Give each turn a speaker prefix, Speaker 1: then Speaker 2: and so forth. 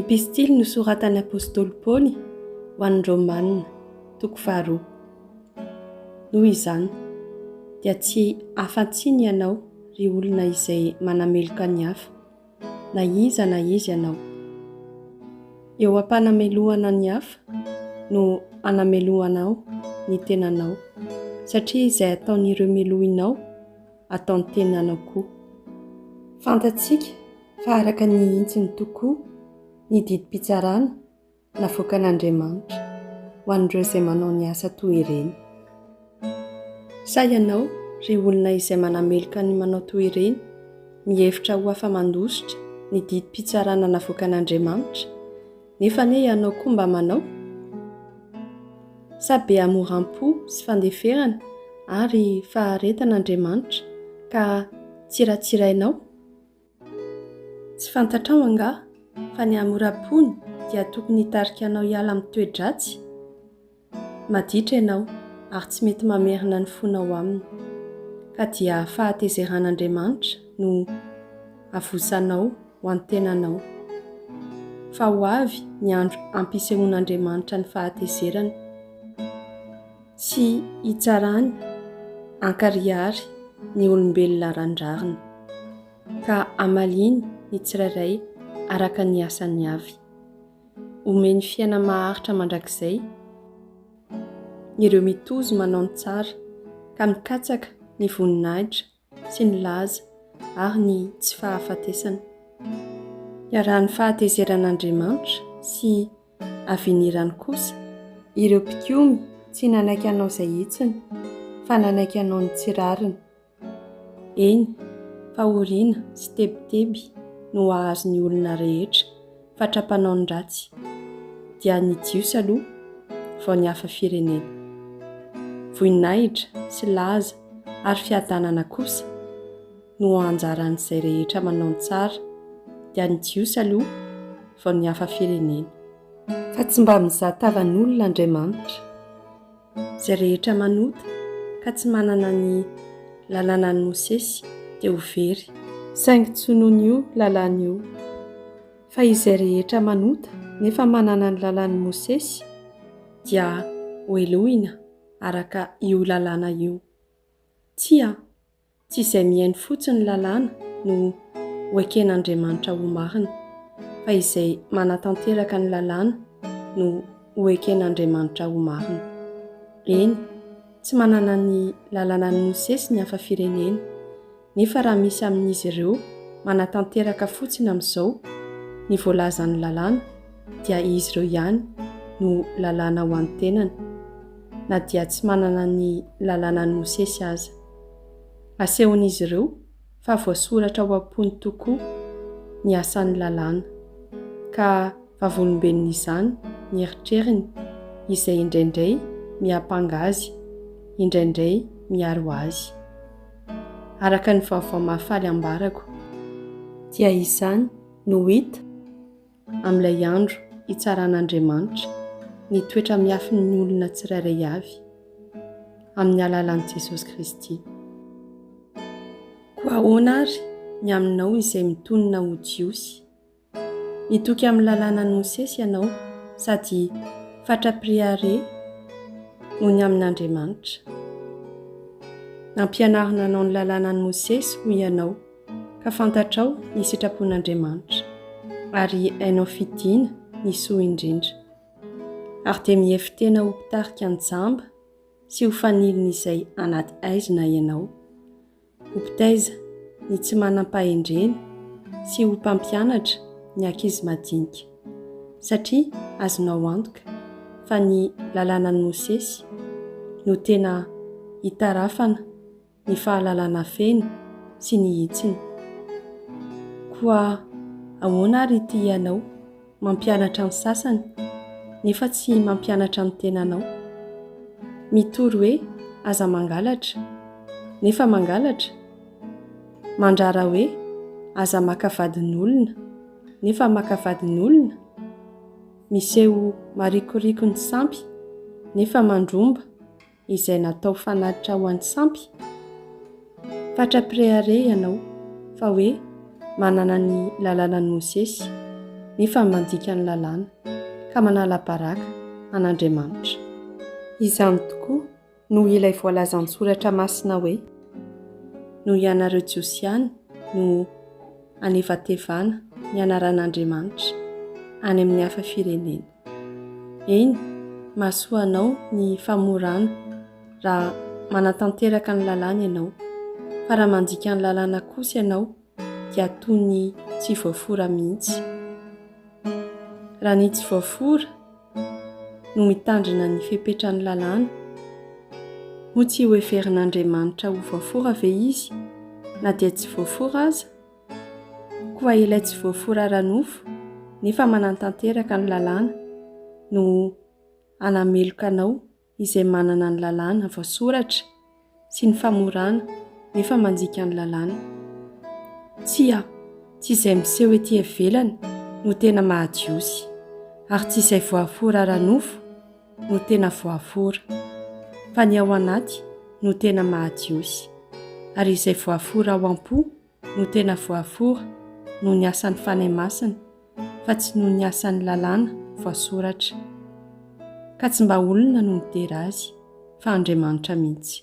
Speaker 1: Epistily nosoratan'ny apostoly Paoly ho an'ny Romanina, toko faharoa. Noho izany, dia tsy afa-tsy ny ianao, ry olona izay manameloka ny hafa, na iza na iza ianao. Eo am-panamelohana ny hafa no anamelohanao ny tenanao, satria izay ataon'ireo melohinao, ataon'ny tenanao koa. Fantatsika fa araka ny hintsiny tokoa ny didim-pitsarana navoakan'Andriamanitra ho an'ireo izay manao ny asa toa ireny. Sa ianao, ry olona izay manameloka ny manao toa ireny, mihevitra ho afa-mandositra ny didim-pitsarana navoakan'Andriamanitra, nefa anie ianao koa mba manao? Sa be hamoram-po sy fandeferana ary faharetan'Andriamanitra ka tsiratsirainao? Tsy fantatrao angaha fa ny hamoram-pony dia tokony hitarika anao hiala amin'ny toe-dratsy? Maditra ianao ary tsy mety mamerina ny fonao aminy, ka dia fahatezeran'Andriamanitra no avosanao ho an'ny tenanao. Fa ho avy ny andro ampisehoan'Andriamanitra ny fahatezerany. Tsy hitsarany ankarihary ny olombelona randrariny, ka hamaliany ny tsirairay araka ny asany avy. Homeny fiaina maharitra mandrakizay ireo mitozo manao ny tsara ka mikatsaka ny voninahitra sy ny laza ary ny tsy fahafatesana. Iarahan'ny fahatezeran'Andriamanitra sy avenirany kosa ireo mpikomy tsy nanaiky hanao izay hitsiny fa nanaiky hanao ny tsy rariny. Eny, fahoriana sy tebiteby no hahazo ny olona rehetra fatra-panao ny ratsy, dia ny Jiosy aloha vao ny hafa firenena. Voninahitra sy laza ary fiadanana kosa no anjaran'izay rehetra manao ny tsara, dia ny Jiosy aloha vao ny hafa firenena. Fa tsy mba mizaha tavan'olona Andriamanitra. Izay rehetra manota ka tsy manana ny lalànan'i Mosesy dia ho very. Saingy tsy noho an'io lalàna io. Fa izay rehetra manota nefa manana ny lalàn'i Mosesy dia hohelohina araka io lalàna io. Tsia, Tsy izay mihaino fotsiny ny lalàna no ho eken'Andriamanitra ho marina, fa izay manatanteraka ny lalàna no ho eken'Andriamanitra ho marina. Eny, tsy manana ny lalànan'i Mosesy ny hafa firenena, nefa raha misy amin'izy ireo manatanteraka fotsiny amin'izao ny voalazan'ny lalàna, dia izy ireo ihany no lalàna ho an'ny tenany, na dia tsy manana ny lalànan'i Mosesy aza. Asehon'izy ireo fa voasoratra ao am-pony tokoa ny asan'ny lalàna, ka vavolombelon'izany ny eritreriny, izay indraindray miampanga azy, indraindray miaro azy. Araka ny Vaovao Mahafaly ambarako, dia izany no hita amin'ilay andro hitsaran'Andriamanitra ny toetra miafin'ny olona tsirairay avy, amin'ny alalan'i Jesosy Kristy. Koa ahoana àry ny aminao izay mitonona ho Jiosy? Mitoky amin'ny Lalànan'i Mosesy ianao sady fatra-priare noho ny amin'Andriamanitra. Nampianarina anao ny Lalànan'i Mosesy, hoy ianao. ka fantatrao ny sitrapon'Andriamanitra, ary hainao fidina ny soa indrindra. Ary dia mihevi-tena ho mpitarika an-jamba sy ho fanilin'izay anaty haizina ianao, ho mpitaiza ny tsy manam-pahendrena sy ho mpampianatra ny ankizy madinika, satria azonao antoka fa ny Lalànan'i Mosesy no tena hitarafana ny fahalalana feno sy ny hitsiny. Koa ahoana ary ity ianao mampianatra ny sasany nefa tsy mampianatra ny tenanao? Mitory hoe aza mangalatra, nefa mangalatra? Mandrara hoe aza maka vadin'olona, nefa maka vadin'olona? Miseho marikoriko ny sampy, nefa mandromba? izay natao fanatitra ho an'ny sampy? Fatra-pirehareha ianao fa hoe manana ny lalànan'i Mosesy, nefa ny mandika ny lalàna, ka manala baraka an'Andriamanitra. Izany tokoa no ilay voalazan'ny Soratra Masina hoe, Noho ianareo Jiosy ihany no anevatevana ny anaran'Andriamanitra any amin'ny hafa firenena. Eny, mahasoa anao ny famorana raha manatanteraka ny lalàna ianao, fa raha mandika ny lalàna kosa ianao dia toy ny tsy voafora mihitsy. Raha ny tsy voafora no mitandrina ny fepetran'ny lalàna, moa tsy hoheverin'Andriamanitra ho voafora ve izy na dia tsy voafora aza? Koa ilay tsy voafora ara-nofo nefa manantanteraka ny lalàna no hanameloka anao izay manana ny lalàna voasoratra sy ny famorana nefa manjika ny lalàna. Tsia, tsy izay miseho ety ivelany no tena maha-Jiosy, ary tsy izay voafora ara-nofo no tena voafora, fa ny ao anaty no tena maha-Jiosy, ary izay voafora ao am-po no tena voafora noho ny asan'ny Fanahy Masina fa tsy noho ny asan'ny lalàna voasoratra. Ka tsy mba olona no midera azy fa Andriamanitra mihitsy.